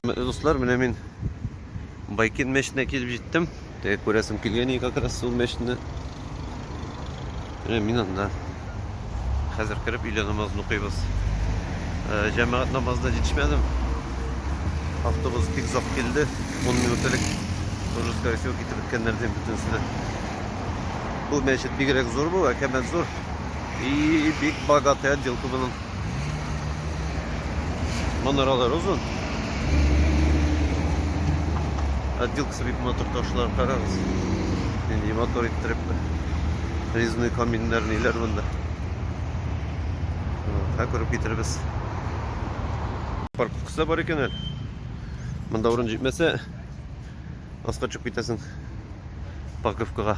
Хөрмәтле дуслар, менә мин Байкин мәчетенә килеп җиттем. Теге күрәсем килгән иде как раз ул мәчетне. Менә мин анда. Хәзер кереп өйлә намазын укыйбыз. Э, җәмәгать намазына җитешмәдем. Автобус бик озак килде. 10 минут элек уже скорее всего китеп беткәннәр дим бөтенесе дә. Бу мәчет бигрәк зур бу, әкәмәт зур. И бик богатый отделка моның. Манаралар озын. Отделка срыв мотор ташлар карагыз. Нинди мотор иттереп. Резной каминнар ниләр монда. Ха күреп китербез. Парковкасы бар икән әле. Монда урын җитмәсә, аска төшеп китәсең парковкага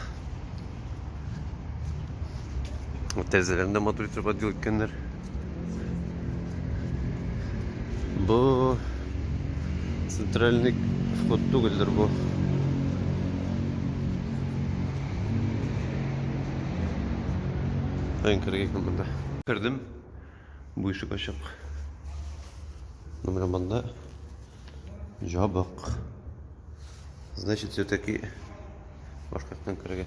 тәрәзәләрен дә матур итеп отдел иткәннәр бу центральный вход түгелдер бу Ön kırık yıkımında. Kırdım. Бу ишек ачык. Менә монда җабык. Значит, все-таки башка яктан керергә.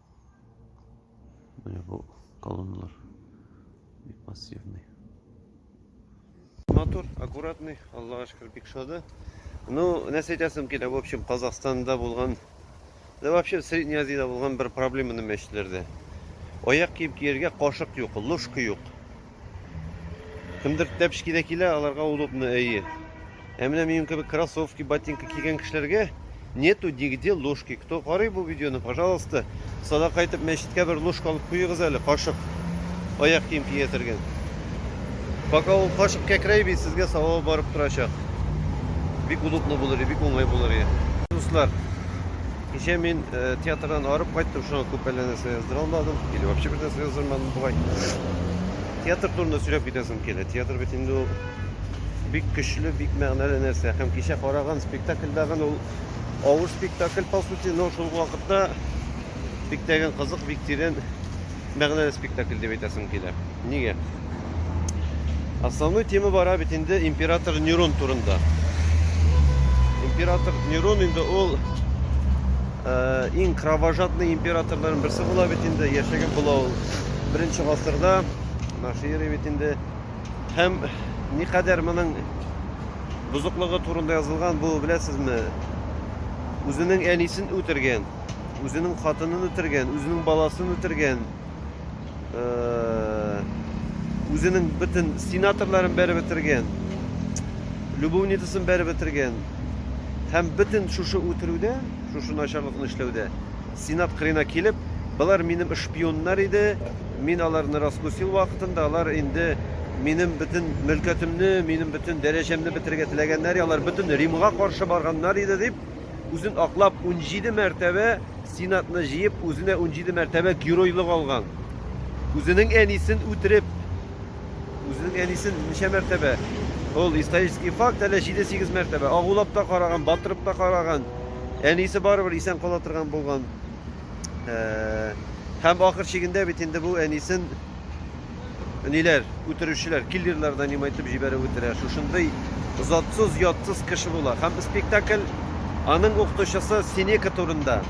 Менә бу колонналар бик массивный. Матур, аккуратный, Аллага шөкер, бик шады. Ну, нәрсә әйтәсем килә, в общем, Казахстанда булган, да вообще Средней Азияда булган бер проблеманы мәчетләрдә. Аяк кием киергә кашык юк, ложка юк. Кемдер тәпшкидә килә, аларга удобно әйе. Ә менә минем кебек кроссовки, ботинка кигән кешеләргә нету нигде ложки. Кто карый бу видеоны, пожалуйста, сада кайтып мәчеткә бер ложка алып куегыз әле, кашык. Аяк кием кия тергән. Пока ул кашык кәкрәй бит, сезгә савабы барып торачак. Бик удобно булыр, бик уңай булыр. Дуслар, Кичә мин э, театрдан арып кайттым, шуңа күп әллә нәрсә яздыра алмадым, или вообще бер нәрсә яздырмадым бугай. Театр турында сөйләп китәсем килә. Театр бит инде ул бик көчле, бик мәгънәле нәрсә. Һәм кичә караган спектакль тагын ул авыр спектакль по сути, но шул вакытта бик тәген кызык, бик тирән мәгънәле спектакль дип әйтәсем килә. Нигә? Основной тема бара бит инде император Нерон турында. Император Нерон инде ул э, иң кровожадный императорларның берсе була бит инде, яшәгән була ул. Беренче гасырда наши эре бит инде һәм никадәр моның бозыклыгы турында язылган бу, беләсезме? Үзенең әнисен үтергән. үзенең хатынын үтергән, үзенең баласын үтергән, үзенең бөтен сенаторларын бәреп бетергән, любовницасын бәреп бетергән. Һәм бөтен шушы үтерүдә, шушы начарлыкны эшләүдә сенат кырына килеп, болар минем шпионнар иде, мин аларны раскусил вакытында, алар инде минем бөтен мөлкәтемне, минем бөтен дәрәҗәмне бетергә теләгәннәр, алар бөтен Римга каршы барганнар иде дип үзен аклап, унҗиде мәртәбә сенатны җыеп, үзенә унҗиде мәртәбә геройлык алган. Үзенең әнисен үтереп, үзенең әнисен ничә мәртәбә? Ул исторический факт, әле 7-8 мәртәбә. Агулап та караган, батырып та караган. Әнисе барыбер исән кала торган булган. Һәм ахыр чигендә бит инде бу әнисен ниләр, үтерүчеләр, киллерлар нанимать итеп җибәреп үтерә. Шушындый затсыз, ятсыз кеше була. Һәм спектакль аның укытучысы Синека турында.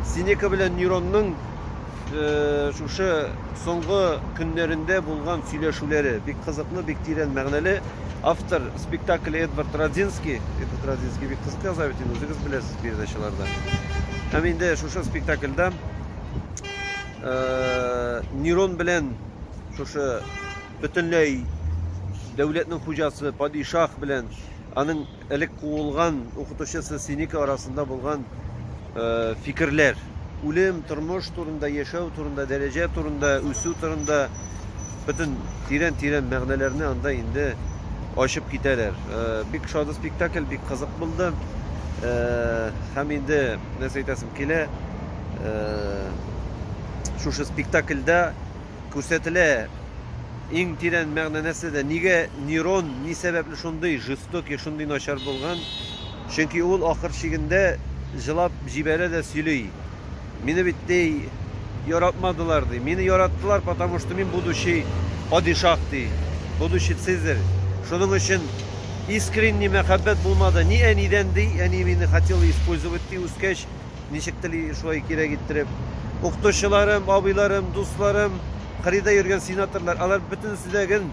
Синека белән Нюронның э, шушы соңгы көннәрендә булган сөйләшүләре бик кызыклы, бик тирән мәгънәле. Автор спектакль Эдвард Радзинский. Эдвард Радзинский бик кызык яза бит инде, үзегез беләсез передачаларда. Һәм инде шушы спектакльда Нерон белән шушы бөтенләй дәүләтнең хуҗасы падишах белән аның элек куылган укытучысы Синика арасында булган э, фикерләр. Үлем, тормыш турында, яшәү турында, дәрәҗә турында, үсү турында бөтен тирән-тирән мәгънәләрне анда инде ачып китәләр. Э, бик шатлы спектакль, бик кызык булды. Э, һәм инде нәрсә әйтәсем килә, шушы спектакльдә күрсәтелә иң тирән мәгънә нәрсәдә нигә нейрон ни сәбәпле шундый жестокий шундый начар булган чөнки ул ахыр чигендә җылап җибәрә дә сөйли мине бит ди яратмадылар ди мине яраттылар потому что мин будущий падишах ди будущий цезарь шуның өчен искренний мәхәббәт булмады ни әнидән ди әни мине хотел использовать ди үскәч Ничек тели шулай кирәк иттереп. Укытучыларым, абыйларым, дусларым, кырыйда йөргән сенаторлар, алар бөтенесе дә гел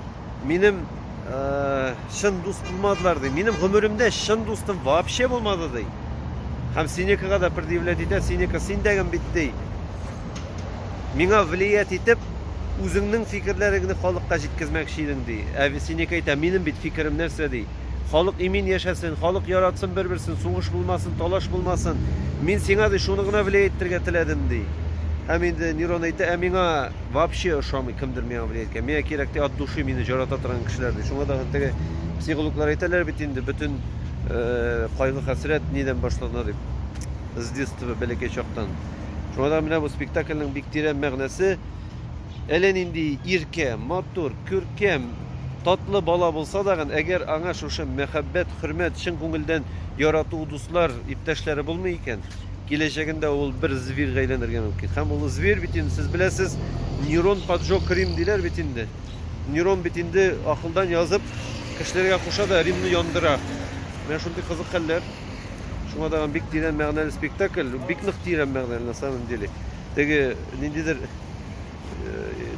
минем э, чын дус булмадылар ди. Минем гомеремдә чын дустым вообще булмады ди. Һәм Синекага да предъявлять итә, Синека син дәгем бит ди. Миңа влиять итеп, үзеңнең фикерләреңне халыкка җиткезмәкче идең ди. Ә Синека әйтә, минем бит фикерем нәрсә ди. Халык имин яшәсен, халык яратсын бер-берсен, сугыш булмасын, талаш булмасын. Мин сиңа, ди, шуны гына влиять итәргә теләдем, ди. Һәм инде Нирон әйтә, Ә миңа вообще ошамый кемдер миңа влиять иткән. Миңа кирәк, ди, от души мине җарата торган кешеләр, ди. Шуңа да теге психологлар әйтәләр бит инде, бөтен кайгы-хәсрәт нидән башлана дип, с детства, бәләкәй чактан. Шуңа да менә бу спектакльнең бик тирән мәгънәсе. Әллә нинди иркә, матур, күркәм, татлы бала булса дагын, әгәр аңа шушы мәхәббәт, хөрмәт, чын күңелдән ярату, дуслар, иптәшләре булмый икән, киләчәгендә ул бер зверьга әйләнергә мөмкин. Һәм ул зверь бит инде, сез беләсез, нейрон поджог Рим диләр бит инде. Нейрон бит инде акылдан язып, кешеләргә куша да Римны яндыра. Менә шундый кызык хәлләр. Шуңа даган бик тирән мәгънәле спектакль, бик нык тирән мәгънәле на самом деле. Теге ниндидер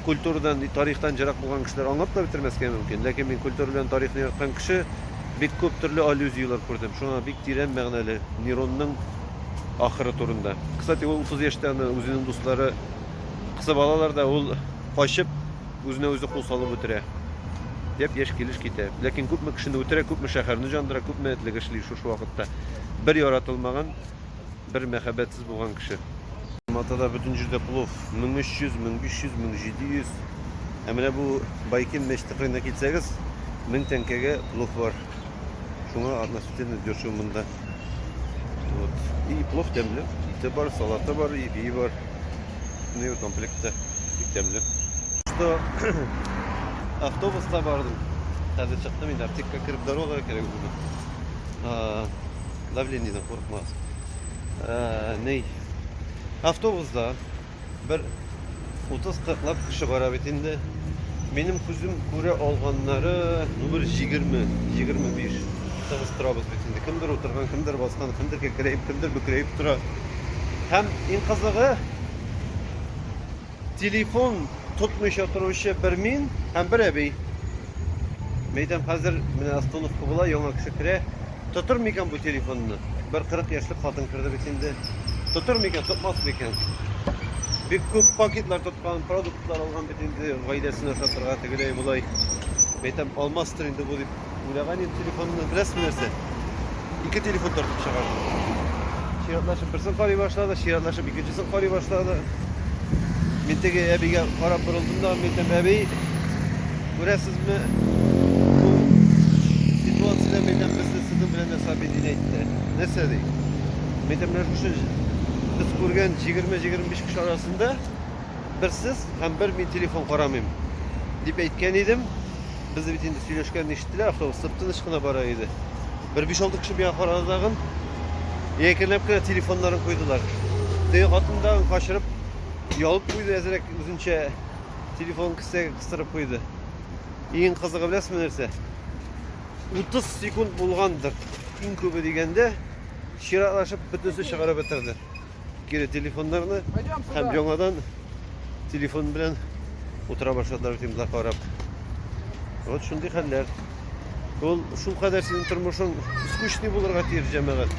культурадан, тарихтан җырак булган кешеләр аңлап та бетермәскә мөмкин. Ләкин мин культура белән тарихны яраткан кеше бик күп төрле аллюзияләр күрдем. Шуңа бик тирән мәгънәле Неронның ахыры турында. Кстати, ул 30 яшьтә аны үзенең дуслары кысып алалар да, ул качып, үзенә үзе кул салып үтерә. Яп яшь килеш китә. Ләкин күпме кешене үтерә, күпме шәһәрне җандыра, күпме этлек эшли шушы вакытта. Бер яратылмаган Бер мәхәббәтсез булган кеше. Матада бөтен җирдә плов. 1300, 1500, 1700. Ә менә бу Байкин мәчете кырыена китсәгез, 1000 тәңкәгә плов бар. Шуңа относительно дешево монда. Вот. И плов тәмле. Ите бар, салаты бар, и бии бар. Ну и комплектта бик тәмле. Что автобуста бардым. Хәзер чыктым инде аптекка кереп дорога кирәк булды. давлениеден курыкмас. Ә, ней. Автобусда бер 30-40 лап кеше бара бит инде. Минем күзем күрә алганнары, ну бер 20, 25. Тыгыз торабыз бит инде. Кемдер утырган, кемдер баскан, кемдер кекрәеп, кемдер бөкрәеп тора. Һәм иң кызыгы, Телефон тотмыйча торучы бер мин һәм бер әби. Мәйтәм, хәзер менә остановка була, яңа кеше керә. Тотыр микән бу телефонны? Бер 40 яшьлек хатын керде бит инде. Тотыр микән, тотмас микән? Бик күп пакетлар тоткан, продуктлар алган бит инде, гаиләсенә сатырга тегеләй булай. Мәйтәм, алмастыр инде бу дип Уйлаган идем телефонны, беләсезме нәрсә? Ике телефон тартып чыгардым. Чиратлашып берсен карый башлады, чиратлашып икенчесен карый башлады. Мин теге әбигә карап борылдым да, мин әйтәм, әби, күрәсезме, ситуацияда мин әйтәм, безне сыдым белән нәрсә әби дин әйтте. Нәрсә ди? Мин әйтәм, менә шушы без күргән 20-25 кеше арасында бер сез һәм бер мин телефон карамыйм дип әйткән идем. Без бит инде сөйләшкәнне ишеттеләр, автобус тып-тыныч кына бара иде. Бер 5-6 кеше миңа карады тагын. Якенләп кенә телефоннарын куйдылар. Теге хатын да качырып, ялып куйды әзрәк үзенчә телефон кесәгә кыстырып куйды. Иң кызыгы беләсезме нәрсә? 30 секунд булгандыр. Иң күбе дигәндә чиратлашып бөтенесе чыгарып бетерде. кире телефоннарны һәм яңадан телефон белән утыра башладылар фильмда карап. Вот шундый хәлләр. Ул шул кадәр синең тормышың скучный булырга тиеш җәмәгать.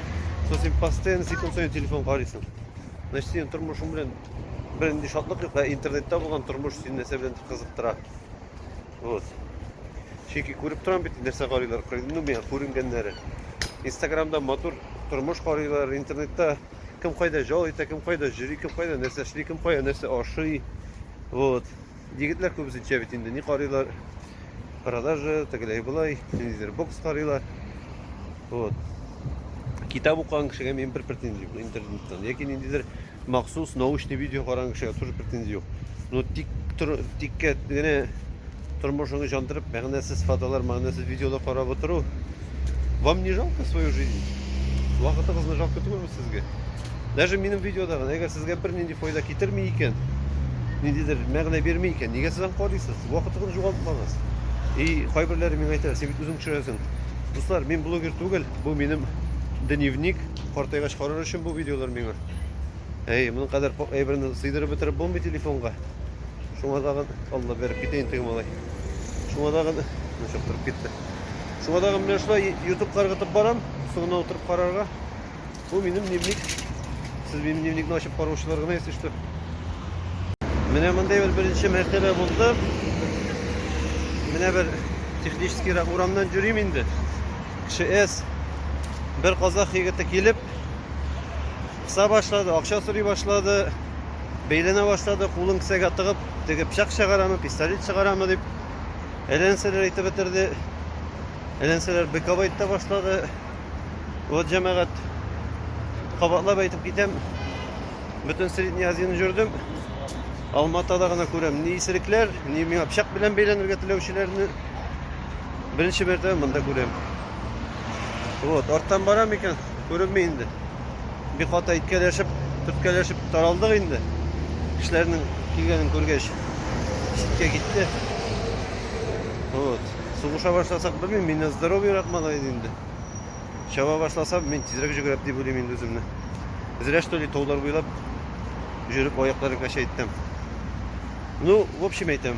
Сосын постоянно секунд сайын телефон карыйсың. Значит, синең тормышың белән бернинди шатлык юк, ә интернетта булган тормыш сине нәрсә белән кызыктыра? Вот. Чөнки күреп торам бит, нәрсә карыйлар. Ну, миңа күренгәннәре. Инстаграмда матур тормыш карыйлар, интернетта кем кайда жол итә, кем кайда җөри, кем кайда нәрсә эшли, кем кайда нәрсә ашый. Вот. Егетләр күбесенчә бит инде ни карыйлар? Продажа, тегеләй былай, ниндидер бокс карыйлар. Вот. Китап укыган кешегә мин бер претензия интернеттан яки ниндидер махсус научный видео караган кешегә тоже претензия юк. Но тик тиккә генә тормышыңны җандырып, мәгънәсез фотолар, мәгънәсез видеолар карап отыру. Вам не жалко свою жизнь? Вакытыгызны жалко түгелме сезгә? Даже минем видеодагы, әгәр сезгә бер нинди файда китерми икән, ниндидер мәгънә бирми икән, нигә сез аны карыйсыз? Вакытыгызны югалтмагыз. И кайберләре миңа әйтә, син бит үзең төшерәсең. Дуслар, мин блогер түгел, бу минем дневник, картайгач карар өчен бу видеолар миңа. Әй, моның кадәр күп әйберне сыйдырып бетереп булмый телефонга. Шуңа тагын Алла биреп китә инде малай. Шуңа тагын ничек торып китте. Шуңа тагын менә шулай YouTube каргытып барам, соңына утырып карарга. Бу минем дневник. Сез минем дневникны ачып караучылар гына если что. Менә мондый бер беренче мәртәбә булды. Менә бер технический урамнан йөрим инде. Кеше эс бер казах егете килеп Кыса башлады, акча сорый башлады, бәйләнә башлады, кулын кесәгә тыгып, теге пычак чыгарамы, пистолет чыгарамы дип, әләнсәләр әйтеп бетерде. Әләнсәләр быкап әйтә башлады. Вот җәмәгать кабатлап әйтеп китәм. Бөтен Средний Азияны җөрдем. Алматада гына күрәм ни исерекләр, ни миңа пычак белән бәйләнергә теләүчеләрне. Беренче мәртәбә монда күрәм. Вот, арттан барам икән. Күренми инде. Бик каты иткәләшеп, төрткәләшеп таралдык инде. Кешеләрнең килгәнен күргәч, читкә китте. Вот. Сугыша башласак, белмим, мин здоровьерак малай иде инде. Чаба башласам, мин тизрәк җөгерәп дип уйлыйм инде үземне. Зря что ли таулар буйлап жүреп аякларым кәчәйттем. Ну, в общем әйтәм.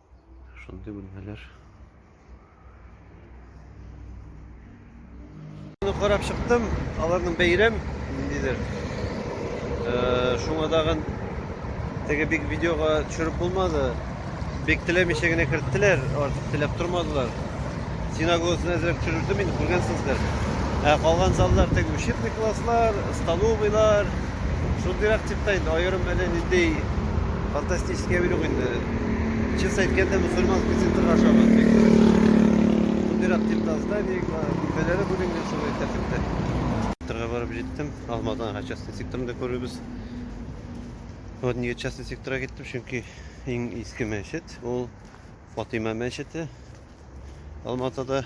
Шундый бүлмәләр. Аны карап чыктым, аларның бәйрәм ниндидер. Э, шуңа тагын теге бик видеога төшереп булмады. Бик теләмичә генә керттеләр, артык теләп тормадылар. Синагогасын әзрәк төшердем инде, күргәнсездер. Ә калган заллар теге учебный класслар, столовыйлар, Шундый рак тип та инде аерым әле ниндәй фантастический әби юк инде. Чис әйткәндә мусульман кесентрга ашаган бик дөрес. Шундый рак тип та здание, бүлмәләре бүленгән шулай тәртиптә. Секторга барып җиттем. Алмадан һәм частный секторны да күрербез. Вот нигә частный секторга киттем, чөнки иң иске мәчет ул Фатыйма мәчете. Алматада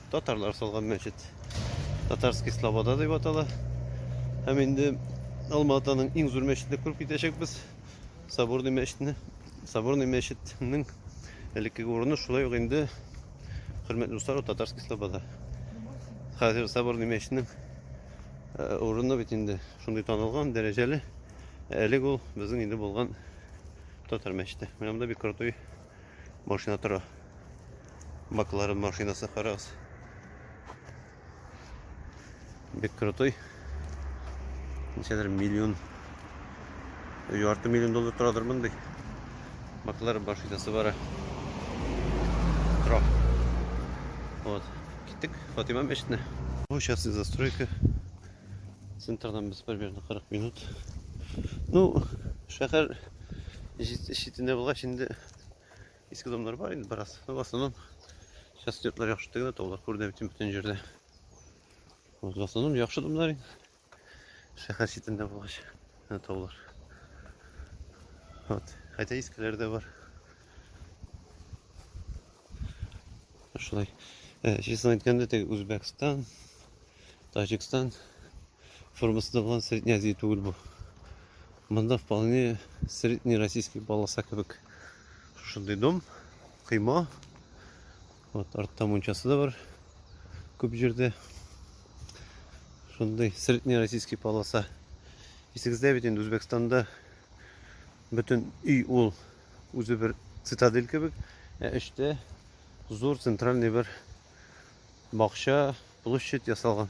Татарлар салган мәчет. Татарский Слобода дип атала. Һәм инде Алматаның иң зур мәчетне күреп китәчәкбез. Соборный мәчетне. Соборный мәчетнең элеккеге урыны шулай ук инде хөрмәтле дуслар Татарский Слобода. Хәзер Соборный мәчетнең э, урыны бит инде шундый танылган, дәрәҗәле. Әлег ул безнең инде булган татар мәчете. Менә монда бик крутой Машина тора. Баклары машинасы карагыз. Бик крутой. Ничәдер миллион. Ярты миллион доллар торадыр мондый. Баклары машинасы бара. Тора. Вот. Киттек Фатима мәчетенә. Сейчас застройка. Центрдан без примерно 40 минут. Ну, шәһәр читендә булгач инде иске домнар бар инде бераз. Ну, в основном сейчас йортлар яхшы түгел, таулар күренә бит бөтен җирдә. Вот в основном яхшы домнар инде. Шәһәр читендә булгач, таулар. Вот, хотя искеләр дә бар. шулай честно әйткәндә теге үзбәкстан тажикстан формасында булган средний азия түгел бу монда вполне средний российский полоса кебек шушындый дом кыйма вот артта мунчасы да бар күп җирдә шундый средний российский полоса исегездә бит инде үзбәкстанда бөтен өй ул Үзе бер цитадель кебек, ә эчтә зур центральный бер бакча, площадь ясалган.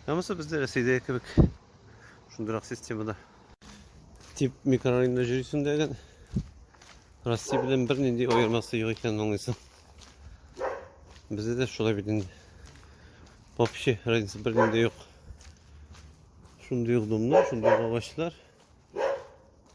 Һәммәсе бездә Рәсәйдә кебек шундыйрак системада. Тип микрорайонда йөрисең дәгән Россия белән бернинди аермасы юк икәнен аңлыйсың. Бездә дә шулай бит инде. Вообще разница бернинди юк. Шундый ук домнар, шундый ук агачлар.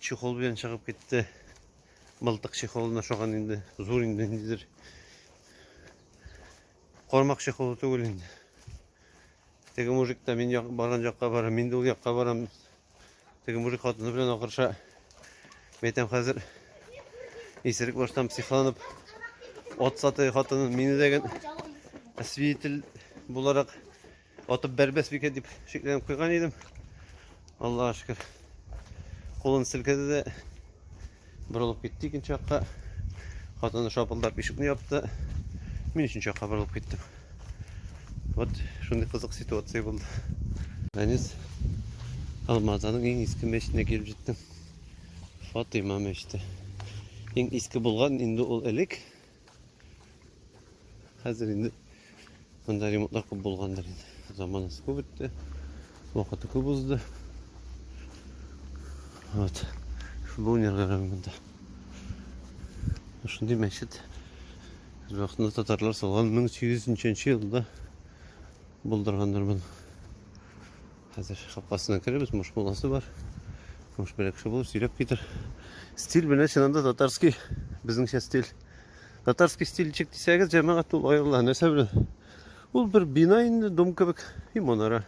Чехол белән чыгып китте. Мылтык чехолына ошаган инде. Зур инде ниндидер. Кармак чехолы түгел инде. Теге мужик та мин як, барган якка бара, мин дә ул якка барам. Теге мужик хатыны белән акырша. Мәйтәм хәзер исерек баштан психланып ат сатый хатынын мине дәген свидетель буларак Атып бәрбәс бикә дип шикләнеп куйган идем. Аллаһ шөкер. Кулын селкеде дә борылып китте икенче якка. Хатыны шапылдап ишекне япты. Мин өченче якка борылып киттем. Вот шундый кызык ситуация булды. Әнис Алмазаның иң иске мәчетенә килеп җиттем. Фатыйма мәчете. Иң иске булган инде ул элек. Хәзер инде монда ремонтлар күп булгандыр инде. Заманасы күп үтте. Вакыты күп узды. Вот. Футбол уйнарлар монда. Шундый мәчет. Вакытында татарлар салган 1800 елда булдыргандыр моны. Хәзер капкасына керебез, муш баласы бар. Муш бер кеше булып сөйләп китер. Стиль менә чыннан да татарский, безнеңчә стиль. Татарский стильчик дисәгез, җәмәгать ул аерыла. Нәрсә белән? Ул бер бина инде, дом кебек, и манара.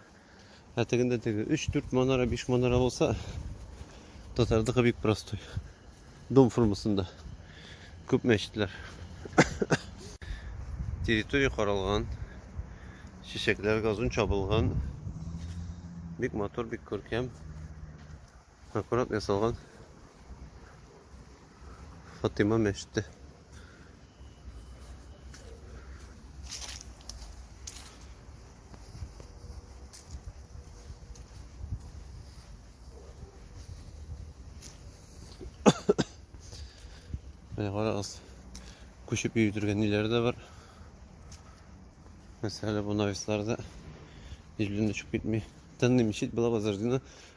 Ә тегендә теге 3-4 манара, 5 манара булса, татардыкы бик простой. Дом формасында күп мәчетләр. Территория каралган. Чәчәкләр газон чабылган. Бик матур, бик күркәм. Аккурат ясалган. Фатима мәчете. Менә карагыз, күчеп йөри торган ниләр дә бар. Мәсәлән, бу нависларда җилдән төшеп китми. Тынны мичит була базардына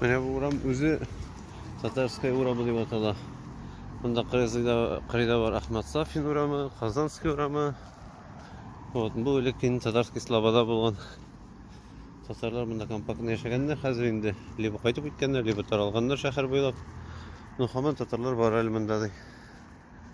Менә бу урам үзе Татарская урамы дип атала. Монда кырыйда бар Ахмат Сафин урамы, Казанский урамы. Вот, бу элек инде Татарский Слобода булган. Татарлар монда компактно яшәгәннәр, хәзер инде либо кайтып киткәннәр, либо таралганнар шәһәр буйлап. Ну, хаман татарлар бар әле монда ди.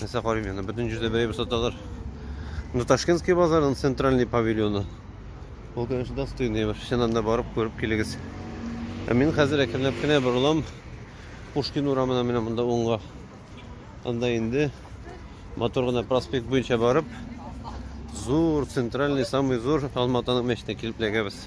Нәрсә карыйм яна? Бөтен җирдә бәйрәм саталар. Ну Ташкентский базарның центральный павильоны. Ул конечно достойный бер. Чыннан да барып күреп килегез. Ә мин хәзер әкренләп кенә борылам. Пушкин урамына менә монда уңга. Анда инде матур гына проспект буенча барып, зур центральный самый зур Алматаның мәчетенә килеп эләгәбез.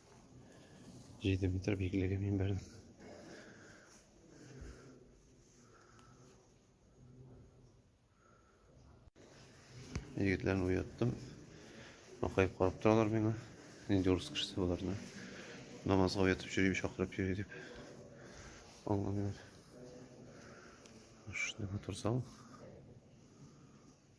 7 метр биеклеге мин бердем. Егетләрне уяттым. Акайып карап торалар миңа. Нинди урыс кешесе боларны. Намазга уятып йөрим, чакырып йөри дип. Аңламыйлар. Шундый матур зал.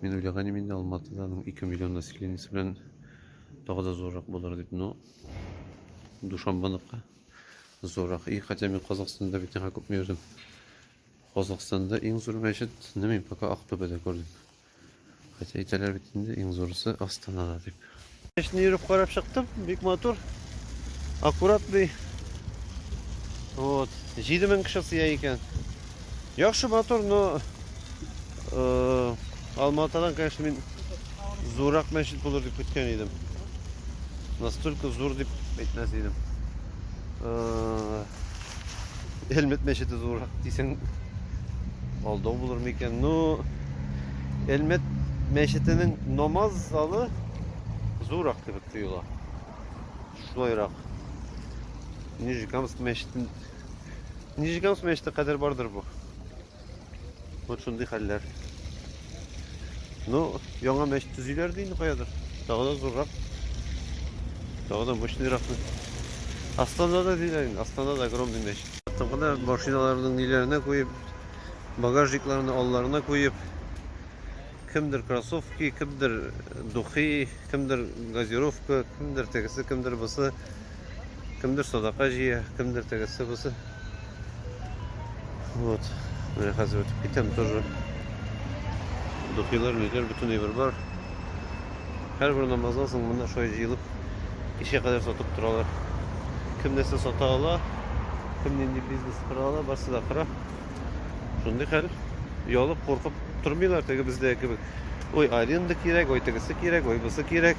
Мин уйлаган идем инде Алматыда аның 2 миллион населениесе белән тагы да зуррак булыр дип, но Душанбаныкы зуррак. И хотя мин Казахстанда бит яңа күпме йөрдем. Казахстанда иң зур мәчетне мин пока Актүбәдә күрдем. Хотя әйтәләр бит инде иң зурысы Астанада дип. Эшне йөреп карап чыктым, бик матур, аккуратный. Вот, 7000 кеше сыя икән. Яхшы матур, но э, Алматадан, конечно, мин зуррак мәчет булыр дип көткән идем. Настолько зур дип әйтмәс идем. Э, Элмет мәчете зуррак дисең, алдау булыр микән? Ну, Элмет мәчетенең намаз залы зуррак кебек тоела. Шулайрак. Нижекамск мәчетен Нижекамск мәчете кадәр бардыр бу. Вот шундый хәлләр. Ну, яңа мәчет төзиләр ди инде каядыр. Тагы да зуррак. Тагы да мощныйрак. Астанада диләр инде. Астанада огромный мәчет. Тыңгыда машиналарының ниләренә куеп, багажникларны алларына куеп, кемдер кроссовки, кемдер духи, кемдер газировка, кемдер тегесе, кемдер бусы. Кемдер садака җыя, кемдер тегесе бусы. Вот. Менә хәзер үтеп китәм тоже. Духилар, ниләр бөтен әйбер бар. Һәрбер намаздан соң монда шулай җыелып кичә кадәр сатып торалар. Кем нәрсә сата ала, кем нинди бизнес кыра ала, барсы да кыра. Шундый хәл. Ялып, куркып тормыйлар теге бездә кебек. Ой, аренда кирәк, ой, тегесе кирәк, ой, бусы кирәк.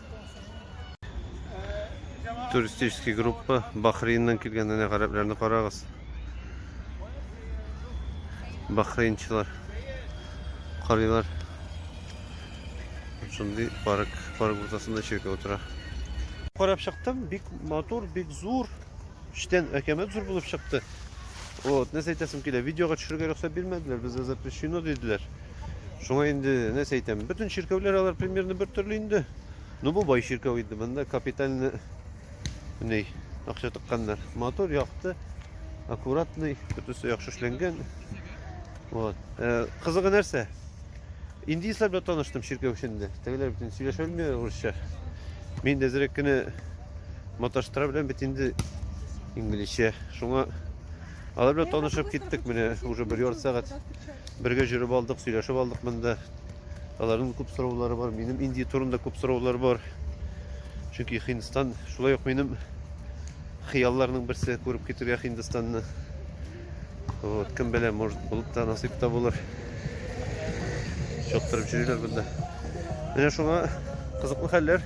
Туристический группа Бахрейннан килгән әнә гарәпләрне карагыз. Бахрейнчылар карыйлар. Шундый парк, парк уртасында чиркәү тора. Карап чыктым, бик матур, бик зур. Эчтән әкәмәт зур булып чыкты. Вот, нәрсә әйтәсем килә, видеога төшерергә рөхсәт бирмәделәр, безгә запрещено диделәр. Шуңа инде нәрсә әйтәм, бөтен чиркәүләр алар примерно бер төрле инде. Ну бу бай чиркәү инде, монда капитальный ней акча тыкканнар. Мотор якты, аккуратный, бөтенесе яхшы эшләнгән. Вот. Э, кызыгы нәрсә? Индийцлар белән таныштым чиркәү эчендә. Тегеләр бит сөйләшә белми урысча. Мин дә зрәк кенә маташтыра беләм бит инде инглизчә. Шуңа Алар белән танышып киттек менә уже бер ярты сәгать. Бергә жүреп алдык, сөйләшеп алдык монда. Аларның күп сораулары бар, минем Индия турында күп сораулар бар. Чөнки Хиндстан шулай ук минем хыялларның берсе күреп китергә Хиндстанны. Вот, кем белә, может, булып та насыйп та булыр. Чоттырып йөриләр монда. Менә шуңа кызыклы хәлләр.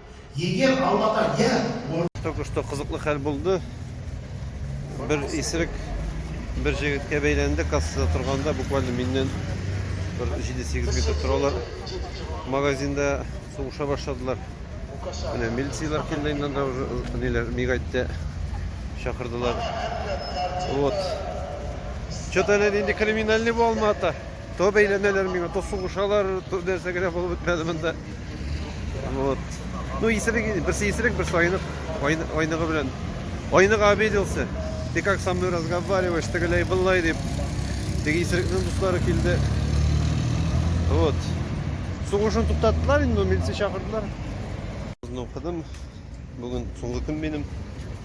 Егер Аллаһка я Только что кызыклы хәл булды. Бер исерек бер җегеткә бәйләнде кассада торганда, буквально миннән бер 7-8 метр торалар. Магазинда сугыша башладылар. Менә милицияләр килде инде анда уже ниләр мигайтте чакырдылар. Вот. Что-то әле нинди криминальный бу Алмата. То бәйләнәләр миңа, то сугышалар, то нәрсә генә булып бетмәде монда. Вот. Ну, исерек, берсе исерек, берсе айнык, айныгы белән. Айнык обиделся. Ты как со мной разговариваешь, тегеләй былай дип. Теге исерекнең дуслары килде. Вот. Сугышын туктаттылар инде, милиция чакырдылар. Укыдым. Бүген соңгы көн минем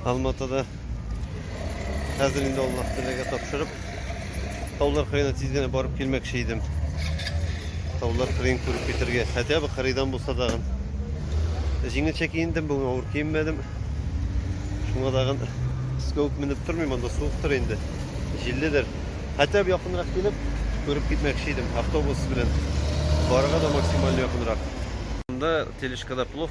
Алматыда. Хәзер инде Аллаһ теләгә тапшырып, таулар кырыена тиз генә барып килмәкче идем. Таулар кырыен күреп китергә, хотя бы кырыйдан булса дагын. Җиңелчә киендем, бүген авыр киенмәдем. Шуңа дагын скоуп менеп тормыйм, анда суыктыр инде, җилледер. Хотя бы якынрак килеп, күреп китмәкче идем автобус белән. Барырга да максимально якынрак. Монда тележкада плов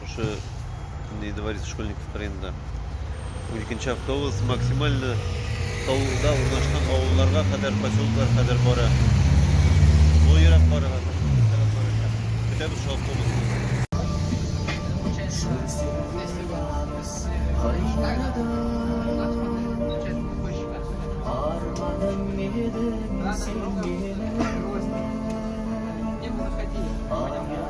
Шушы инде инвалид школьников районында. Уникенче автобус максимально талда урнашкан авылларга кадәр, поселоклар кадәр бара. Бу ерак барырга Көтәбез шул автобусны. Арманым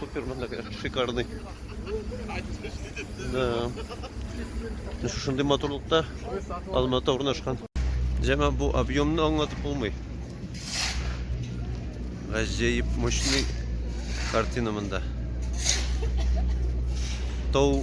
Супер монда, конечно, шикарный. Да. Шушындый матурлыкта Алмата урнашкан. Җәмә бу объемны аңлатып булмый. Гаҗәеп мощный картина монда. Тау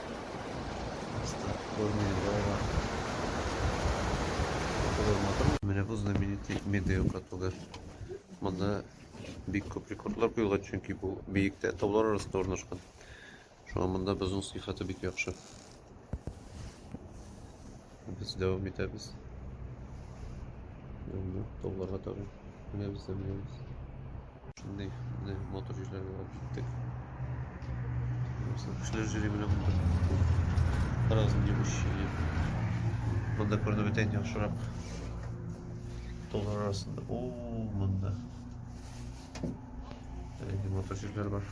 Просто Горная Вова. Кызылматырмы? Менә бу знаменитый Медео катугы. Монда бик күп рекордлар куелган, чөнки бу биектә таулар арасында урнашкан. Шуңа монда бозның сыйфаты бик яхшы. Без дәвам итәбез. Менә тауларга таба менәбез дә менәбез. Шундый менә мотор җирләргә барып җиттек. Кешеләр җире менә монда. Разные девушки. Монда күренеп бетәйін яхшырак. Таулар арасында. О, монда. Әлеге мотор җирләр бар.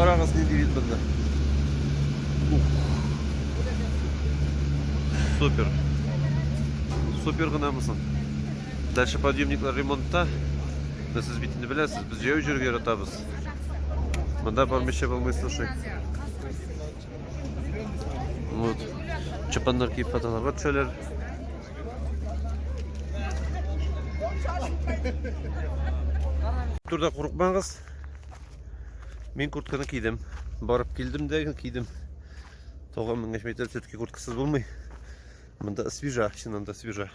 Карагыз нинди вид монда. Супер. Супер гынамысын. Дальше подъемниклар ремонтта. Менә сез бит инде беләсез, без җәяү йөрергә яратабыз. Монда бармыйча булмый, слушай. Вот. Чапаннар киеп фотоларга төшәләр. Турда курыкмагыз. Мин куртканы кидем. Барып килдем дә кидем. 9000 метр все-таки курткасыз булмый. Монда свежа, чыннан да свежа.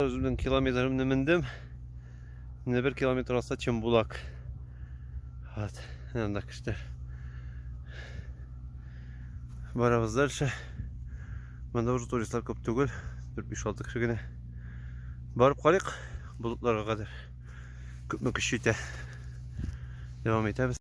Үземнең километрымны мендем. Менә бер километр аста Чембулак. Вот, анда кешеләр. Барабыз дальше. Монда уже туристлар күп түгел. 4-5-6 кеше генә. Барып карыйк болытларга кадәр. Күпме көч җитә. Дәвам итәбез.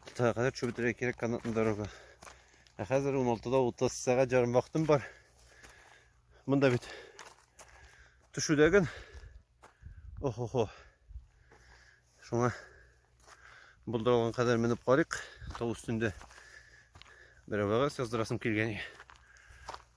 Алтыга кадәр чүбетрәгә кирәк канатный дорога. Ә хәзер 16-да 30 сәгать ярым вакытым бар. Монда бит төшүдәген. Охо-хо. Шуңа булдырылган кадәр менеп карыйк. Тау өстендә берәүгә яздырасым килгән.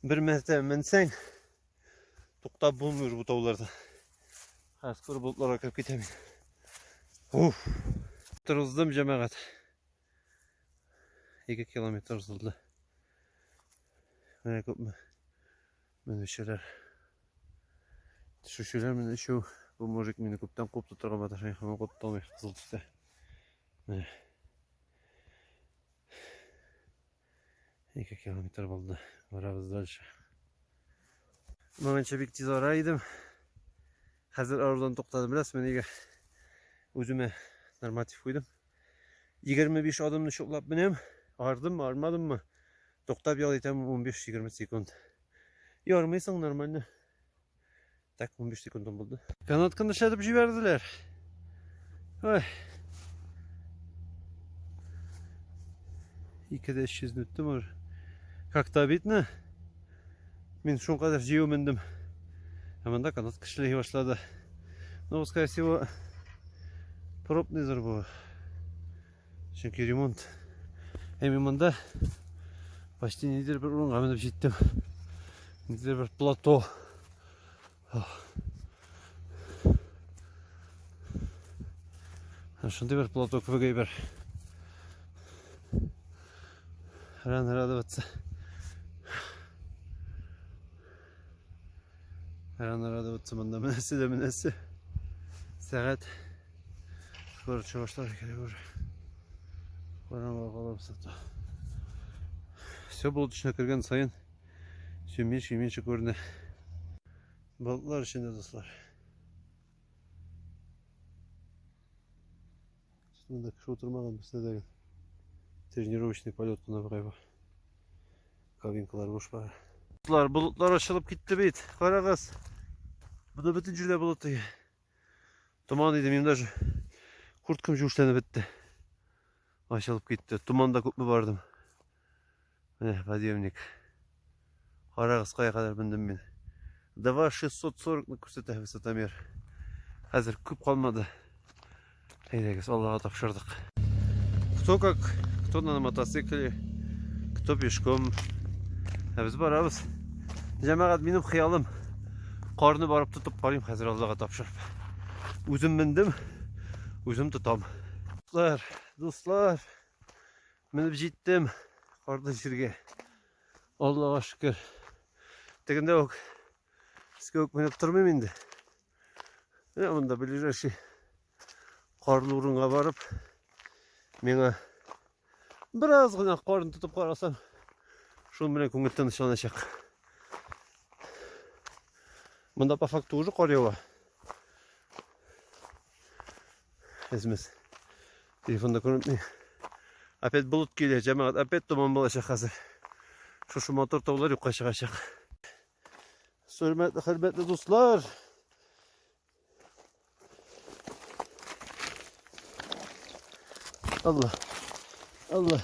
Бер мәртәбә менсәң, туктап булмый бу тауларда. Хәзер күр болытларга кереп китәм. Уф! Тырыздым, җәмәгать. 2 километр узылды. Менә күпме менүчеләр. Төшүчеләр менә өчәү. Бу мужик мине күптән куып тотырга маташа, һәм куып тоталмый кызыл төстә. Менә. Ике километр булды. Барабыз дальше. Моңынча бик тиз ара идем. Хәзер арудан туктадым. Беләсезме нигә? Үземә норматив куйдым. 25 адымны чуклап менәм. Ардыммы, армадыммы? Туктап ял итәм 15-20 секунд. Ярмыйсың нормально. Так 15 секундым булды. Канатканы эшләтеп җибәрделәр. Ой. Ике дә 300 үттем уже. Как-то обидно. Мин шул кадәр җыю мендем. Ә монда канатка эшләй башлады. Ну, скорее всего, пробный зур Чөнки ремонт Әми монда почти нидер бер урынга менеп җиттем. Нидер бер плато. Шундый бер плато кебек әйбер. Ран радоваться. Рано радоваться монда менәсе дә менәсе. Сәгать скоро чыгышлар керә уже. Караңгы калабыз ата. Все булды төшенә кергән сайын сөймеш сөймеше күренә. Болытлар эчендә дуслар. Монда кеше утырмаган бездә дә тренировочный полет кына бугай бу. Кабинкалар буш бара. Болар болытлар ачылып китте бит. Карагыз. Буда бөтен җирдә болыт иде. Томан иде, минем даже курткам җүшләнеп бетте. Ачылып китте. Туманда күпме бардым. Менә подъемник. Карагыз, кая кадәр мендем мин. 2640-ны күрсәтә высотомер. Хәзер күп калмады. Әйдәгез, Аллага тапшырдык. Кто как, кто на мотоцикле, кто пешком. Ә без барабыз. Җәмәгать, минем хыялым. Карны барып тотып карыйм хәзер Аллага тапшырып. Үзем мендем, үзем тотам. Дуслар, дуслар, Менеп җиттем карлы җиргә. Аллага шөкер. Тегендә үк өскә үк менеп тормыйм инде. Менә монда ближайший карлы урынга барып, миңа бераз гына карын тотып карасам, шуның белән күңел тынычланачак. Монда по факту уже кар ява. Әзмәс. Телефонда күренми. Опять болыт килә, җәмәгать, опять томан булачак хәзер. Шушы мотор таулар юкка чыгачак. Хөрмәтле, хөрмәтле дуслар. Алла. Алла.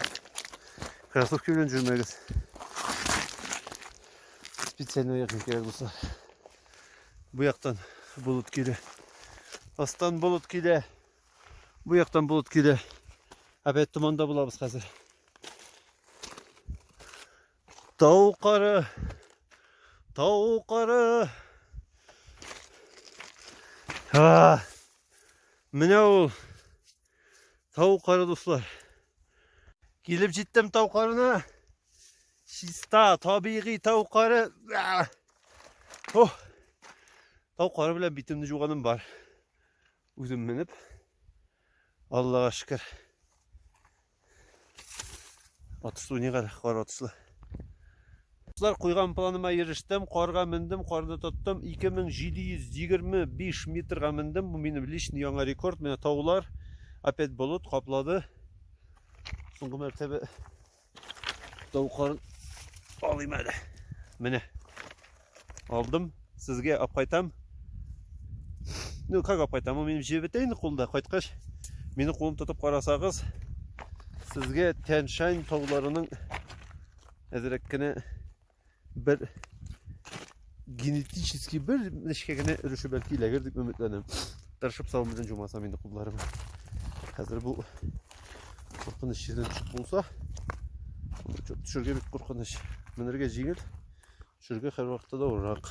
Кроссовки белән жүрмәгез. Специально якын кирәк дуслар. Бу яктан болыт килә. Астан болыт килә. Бу яктан болыт килә. Опять туманда булабыз хәзер. Тау кары. Тау кары. А! Менә ул тау кары дуслар. Килеп җиттем тау карына. Чиста, табигый тау кары. О! Тау кары белән битемне жуганым бар. Үзем менеп. Аллага шөкер. Атыслы не кара, кар атыслы. Дуслар, куйган планыма ирештем, карга мендем, карны тоттым. 2725 метрга мендем. Бу минем личный яңа рекорд. Менә таулар, опять болыт каплады. Соңгы мәртәбә Тавыкларын алыйм әле. Менә. Алдым. Сезгә алып кайтам. Ну, как алып кайтам? Минем җебе бетә инде кулда. Кайткач, мине кулым тотып карасагыз, сезгә Тянь-Шань тауларының әзрәк кенә бер генетически бер нечкә генә өлеше бәлки эләгер дип өметләнәм тырышып сау белән җумасам инде кулларыма хәзер бу куркыныч җирдән төшеп булса төшергә бик куркыныч менергә җиңел төшергә һәрвакытта да авыррак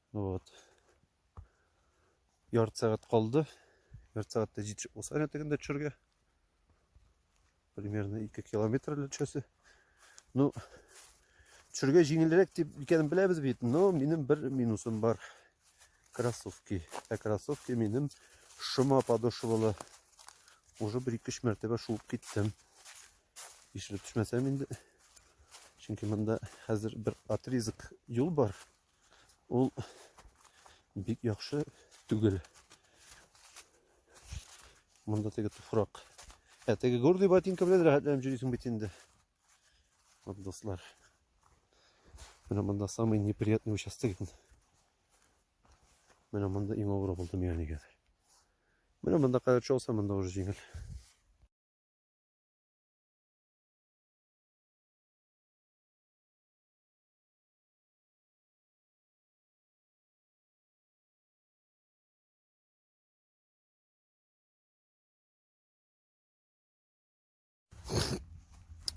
Вот. Ярты сәгать калды. Ярты сәгатьтә җитешеп булса гына тегендә төшәргә. Примерно 2 километр төшәсе. Ну, төшәргә җиңелрәк дип икәнен беләбез бит, но минем бер минусым бар. Кроссовки. Ә кроссовки минем шома подошвалы. Уже бер ике мәртәбә шуып киттем. Ишелеп төшмәсәм инде. Чөнки монда хәзер бер отрезок юл бар. ул бик яхшы түгел. Монда теге туфрак. Ә теге гордый ботинка белән рәхәтләнеп йөрисең бит инде. Вот, дуслар. Менә монда самый неприятный участок. Менә монда иң авыр булды миңа нигәдер. Менә монда кадәр чалса, монда уже җиңел.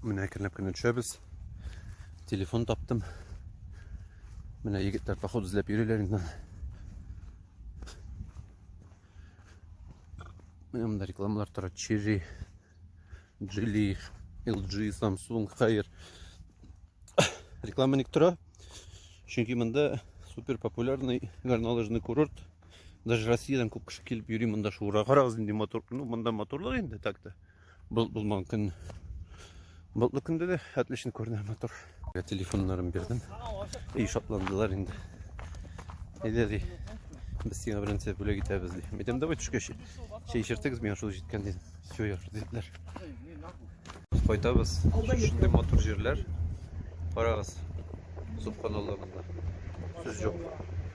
Менә әкренләп кенә төшәбез. Телефон таптым. Менә егетләр поход эзләп йөриләр инде. Менә монда рекламалар тора. Черри Джили, LG, Samsung, Хайер. Реклама ник тора? Чөнки монда супер популярный горнолыжный курорт. Даже Россиядан күп кеше килеп йөри монда шуыра. Карагыз инде мотор, ну монда моторлар инде так-то. Болыт булмаган көн. Болытлы көндә дә отлично күренә мотор. Телефоннарын бирдем. И шатландылар инде. Әйдә ди. Без сиңа беренче бүләк итәбез ди. Әйтәм, давай төшкәч чәй эчертегез, миңа шул җиткән дидем. Все, яхшы диделәр. Кайтабыз. Шундый матур җирләр. Карагыз. Субханалла монда. Сүз юк.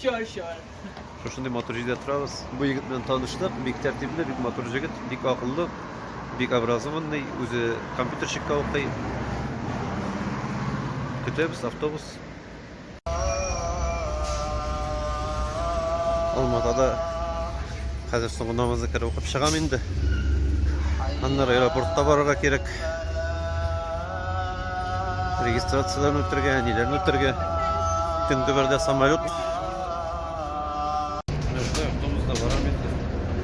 Sure, sure. Шушындый матур җирдә торабыз. Бу егет белән таныштык. Бик тәртипле, бик матур җегет, бик акыллы, бик образованный, үзе компьютерщикка укый. Көтәбез автобус. Алматада хәзер соңгы намазны кереп укып чыгам инде. Аннары аэропортка барырга кирәк. Регистрацияләрен үтергә, әниләрен үтергә. Төнге бердә самолет. Нәрсә, автобуста барам инде.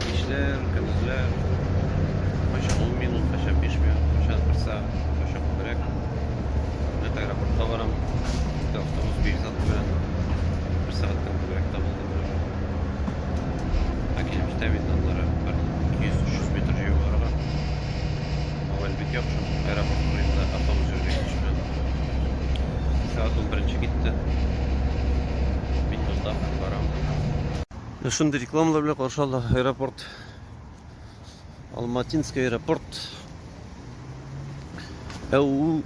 Кичләр, көндезләр. Кайчак ун минут, кайчак биш минут, кайчак бер сәгать, кайчак күбрәк. Нәкъ аэропортка барам. Инде автобус биш сәгать белән. Бер сәгатьтән күбрәк тә булды менә. Ә килеп җитәм инде аннары бер 200-300 метр җәяү барырга. Мавел бик яхшы. Аэропорт турында автобус җиргә кичүне. Сәгать ул беренче китте. Мин монда барам. Шундый рекламалар белән каршы алды аэропорт. Алматинский аэропорт. Әу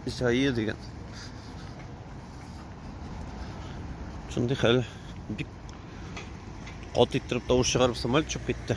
Исаия дигән. Шундый хәл. Бик кат иттереп тавыш чыгарып самолет чыгып китте.